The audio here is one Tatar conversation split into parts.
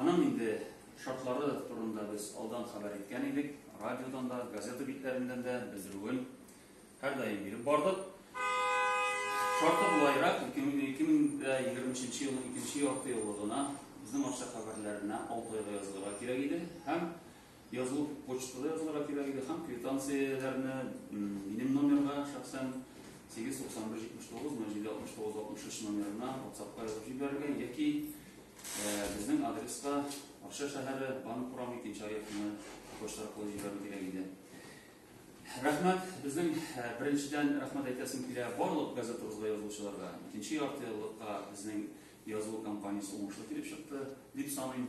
Аның инде шартлары турында без алдан хәбәр иткән идек, радиодан да, газета битләреннән дә белдерүен һәрдаим биреп бардык. Шарты болайрак, 2023 елның икенче ярты еллыгына безнең Арча хәбәрләренә 6 айга язылырга кирәк иде һәм Язылу почтада язылырга кирәк иде һәм квитанцияләрне минем номерга шәхсән 89179 076963 номерына WhatsApp-ка язып җибәрергә яки безнең адреска Арча шәһәре банк урам икенче аякны почта аркылы җибәрү кирәк иде. Рәхмәт, безнең беренчедән рәхмәт әйтәсем килә барлык газетабызга язучыларга. Икенче ярты еллыкка безнең язылу компаниясе уңышлы килеп чыкты, дип саныйм.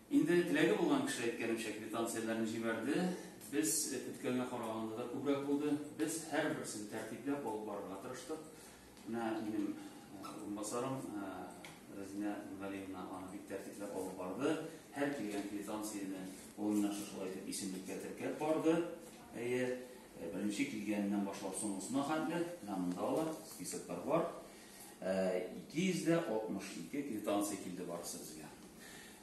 Инде теләге булган кеше, әйткәнемчә, квитанцияләрен җибәрде. Без көткәнгә караганда да күбрәк булды. Без һәрберсен тәртипләп алып барырга тырыштык. Менә минем урынбасарым Рәзинә Галиевна аны бик тәртипләп алып барды. Һәр килгән квитанцияне ул менә шушылай итеп исемлеккә теркәп барды. Әйе, беренче килгәннән башлап соңгысына хәтле, менә монда ла списоклар бар. 262 квитанция килде барысы безгә.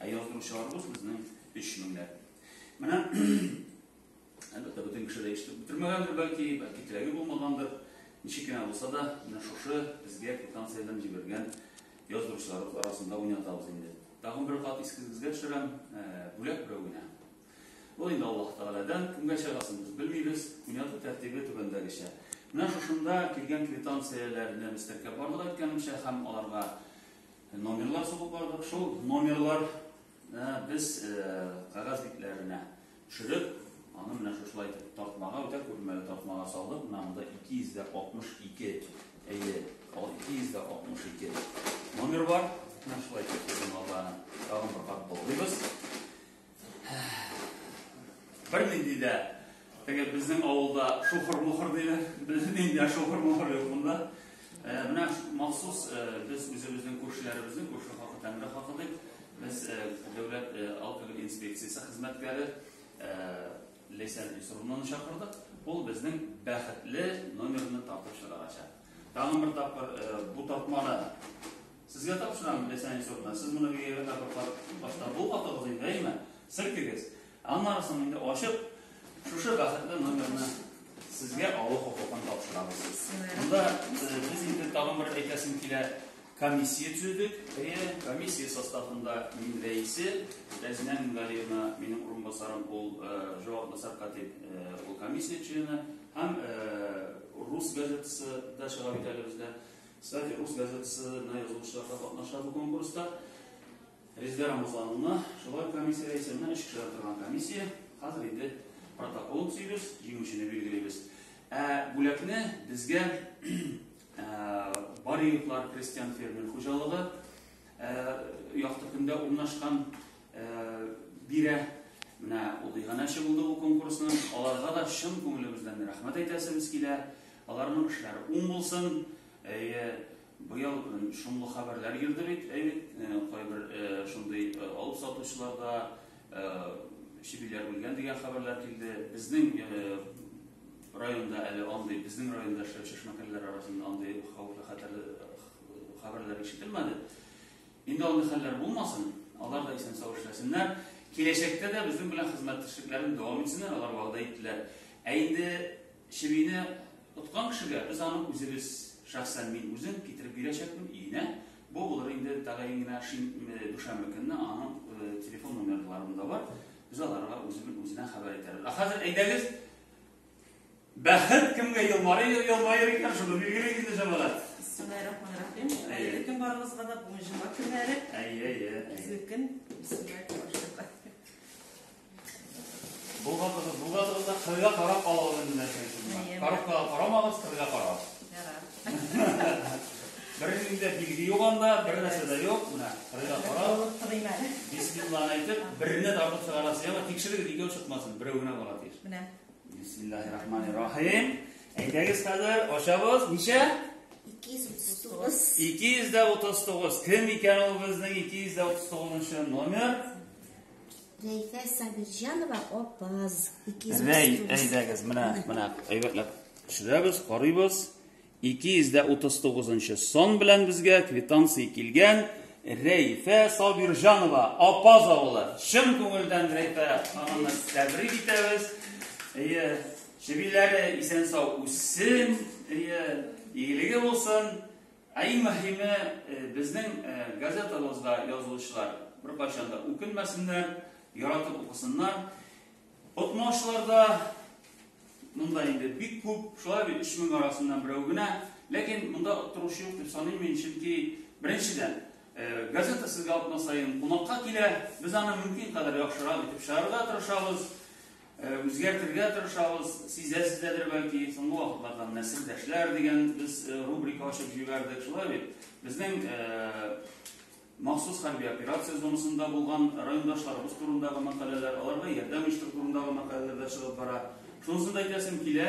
Ә яздыручыларыбыз безнең 3 меңләп. Менә әлбәттә бөтен кеше дә ишетеп бетермәгәндер бәлки, бәлки теләге булмагандыр. Ничек кенә булса да, менә шушы безгә квитанцияләрен җибәргән яздыручылар арасында уйнатабыз инде. Тагын бер кат искегезгә төшерәм, бүләк берәү генә. Ул инде Аллаһ Тәгаләдән, кемгә чыгасын без белмибез. Уйнату тәртибе түбәндәгечә. Менә шушында килгән квитанцияләрне без теркәп бардык әйткәнемчә һәм аларга номерлар сугып бардык. Шул номерлар э, без э, кагаз битләренә төшереп, аны менә шушылай итеп тартмага, үтә күрмәле тартмага салдык. Менә монда 262 әйе, ал 262 номер бар. Менә шулай итеп без аларны тагын бер кат болгыйбыз. Бер нинди дә теге безнең авылда шухыр-мухыр диләр. Безнең нинди шухыр-мухыр юк монда. Э, менә махсус э, без үзебезнең күршеләребезнең күрше хакы тәмре хакы дип без э, дәүләт алкоголь инспекциясе хезмәткәре Ләйсән Исрумнаны чакырдык. Ул безнең бәхетле номерны тартып чыгарачак. Тагын бер тапкыр бу тартманы Сезгә тапшырам, Ләйсән Исовна, сез моны бигәгә тапырклап башта бу хатыгыз инде, әйме? Селкегез. Аннары соң инде ачып, шушы бәхетле номерны сезгә алу хокукын тапшырабыз. Монда э, без инде тагын бер әйтәсем килә, комиссия төзедек. Әйе, комиссия составында мин рәисе, Рәзинә Мингалиевна, минем урынбасарым, ул э, җаваплы сәркатип, э, ул комиссия члены һәм рус газетасы да чыга бит әле бездә. Кстати, рус газетасына язылучылар да катнаша бу конкурста. Резидә Рамазановна, шулай комиссия рәисе менә өч кешедән торган комиссия. Хәзер инде протокол төзибез, җиңүчене билгелибез. Ә бүләкне безгә Бариевлар крестьян фермер хуҗалыгы якты көндә урнашкан бирә. Менә ул иганәче булды бу конкурсның. Аларга да чын күңелебездән рәхмәт әйтәсебез килә. Аларның эшләре уң булсын. Әйе, быел шомлы хәбәрләр йөрде бит, әйе, кайбер шундый алып сатучыларда чебиләр үлгән дигән хәбәрләр килде. Безнең районда әле андый, безнең районда эшләп чешмәкәрләр арасында андый хәвефле хәтәр хәбәрләр ишетелмәде. Инде андый хәлләр булмасын, алар да исән-сау эшләсеннәр. Киләчәктә дә безнең белән хезмәттәшлекләрен дәвам итсеннәр, алар вәгъдә иттеләр. Ә инде Чебине откан кешегә без аны үзебез, шәхсән мин үзем китереп бирәчәкмен өенә. Бу булыр инде тәгаен генә шин дүшәмбе көнне аның телефон номерларын да бар. Без аларга үзем үзенә хәбәр итәрбез. Ә хәзер әйдәгез Бәхет кемгә елмары елмаер икән, шуны билгелик инде җәмәгать. Бисмиллаһиррахманиррахим. Әйе, кем барыгызга да бүгін җомга көннәре. Әйе, әйе. Безнекен бисмиллаһиррахманиррахим. Булгандыгыз, булгандыгыз да кырга карап алалар инде нәрсәсен. Коробкага карамагыз, кырга карагыз. Бернинди дә билге юк анда, бер нәрсә дә юк. Менә кырга карап. Бисмиллаһ әйтеп, берне тартып чыгарасыз. Яңа тикшерегез, икәү чыкмасын, берәү генә бара тиеш. Менә. Бисмиллаһир рахманир рахим. Әйдәгез хәзер, ашабыз. Ничә? 239. 239. Кем икән ул безнең 239 номер? Рәйфә Сабирҗанова апаз. Рәй, әйдәгез, менә, менә, әйбәтләп төшерәбез, карыйбыз. 239 сон белән безгә квитанция килгән Рәйфә Сабирҗанова апаз авылы. Чын күңелдән Рәйфә ханымны тәбрик итәбез. Әйе, чебиләре исән-сау үссен, әйе, игелеге булсын. Ә иң мөһиме, безнең газетабызда язылучылар беркайчан да үкенмәсеннәр, яратып укысыннар. Отмаучылар да монда инде бик күп, шулай бит 3000 арасыннан берәү генә. Ләкин монда оттыручы юк дип саныйм мин, чөнки беренчедән, газета сезгә атна саен кунакка килә, без аны мөмкин кадәр яхшырак итеп чыгарырга тырышабыз. Үзгәртергә тырышабыз, сизәсездәдер бәлки, соңгы вакытлардан нәселдәшләр дигән без рубрика ачып җибәрдек, шулай бит. Безнең махсус хәрби операция зонасында булган райондашларыбыз турындагы мәкаләләр, аларга ярдәм оештыру турындагы мәкаләләр дә чыгып бара. Шунысын да әйтәсем килә,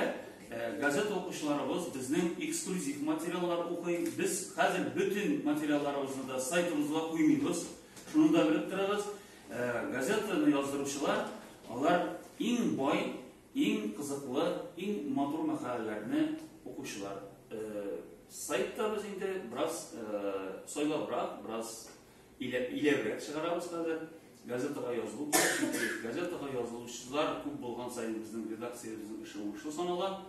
газета укучыларыбыз безнең эксклюзив материаллар укый. Без хәзер бөтен материалларыбызны да сайтыбызга куймыйбыз. Шуны да белеп торыгыз. Газетаны яздыручылар алар иң бай, иң кызыклы, иң матур мәкаләләрне укучылар. Сайтта без инде бераз сайлабрак, бераз иләбрәк чыгарабыз хәзер. Газетага язылу газетага язылучылар күп булган саен безнең редакциябезнең эше уңышлы санала.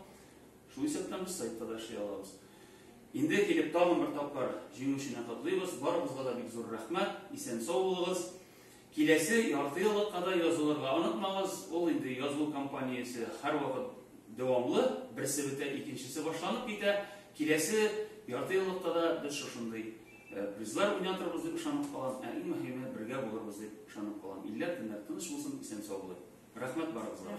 Шул исәптән без сайтта да эшли алабыз. Инде килеп тагын бер тапкыр җиңүчене котлыйбыз, барыбызга да бик зур рәхмәт, исән-сау булыгыз. Киләсе яртыеллыкка да язылырга онытмагыз, ул инде язылу кампаниясе һәрвакыт дәвамлы, берсе бетә, икенчесе башланып китә, киләсе яртыеллыкта да без шушындый призлар уйнатырбыз дип ышанып калам, ә иң мөһиме бергә булырбыз дип ышанып калам. Илләр, көннәр тыныч булсын, исән-сау булыйк. Рәхмәт барыгызга.